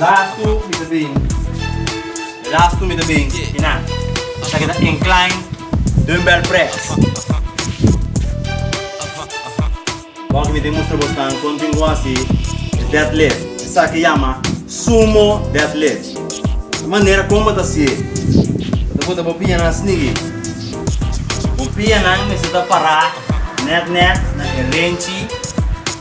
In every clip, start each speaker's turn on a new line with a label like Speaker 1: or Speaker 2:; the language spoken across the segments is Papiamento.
Speaker 1: Last two mi ta bin The last two mi ta bin y na Esta aquí ta incline dumbbell press Bon mi tin mustra bos nan con tin cu haci e deadlift Esaki yama sumo deadlift E manera con bo ta haci e bo ta puta bo pianan snigi Bo pianan mester ta para net net na e renchi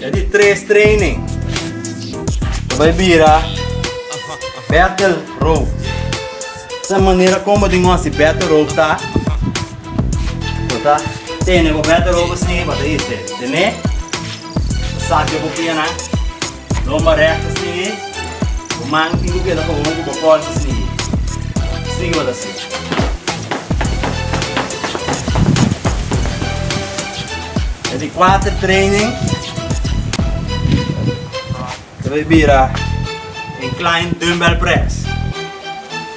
Speaker 1: E di tres training ta bai bira battle rope. Sa manera como tin hosi battle rope ta, bo ta tene bo battle rope así, bo ta dice, Dene, saki bo pianan. Lo ma rèkta siñe bo man tin ku keda kòm hopi bo fòrsa siñe siñe bo ta siñe. E di kuater training ta bay bira incline dumbbell press.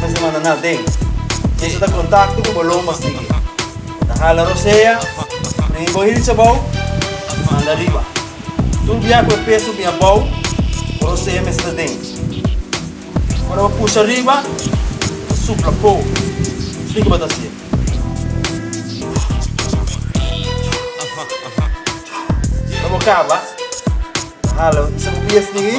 Speaker 1: Mester manda na den. Mester ta kontakto ku bo lomba sigi. Ta hala rosea, bringi bo hil chabou i manda riba. Tur biaha ku e peso bin abou, bo rosea mester ta den. Ora bo pusha riba, bo supla pou. Sigi bo ta hasia. Ora bo kaba, bo hala, bo bisa ku bias nigi.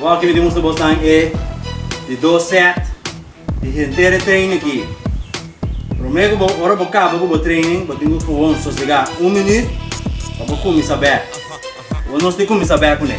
Speaker 1: Awor ke mi ta mustra bos nan e di dos set di henter training aki. Prome ku bo ora bo kaba ku bo training bo tin ku koon sosega un minüt pa bo kuminsá bek. Awor nos tin kuminsá bek kuné.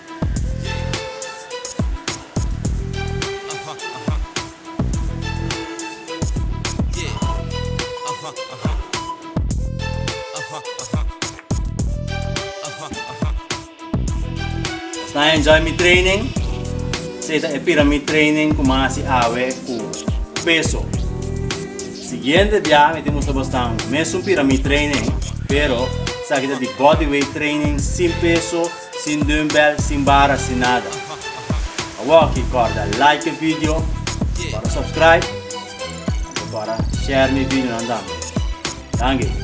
Speaker 1: Nan a enjoy mi training. Se ta e piramid training ku nan hasi awe ku peso. Siguiente biaha mi tin mustra bosnan mesun piramid training, pero esaki ta di bodyweight training sin peso. Sin dun bel sin bara sin nada awor aki corda like e video corda subscribe y corda share mi videonan tambe danki.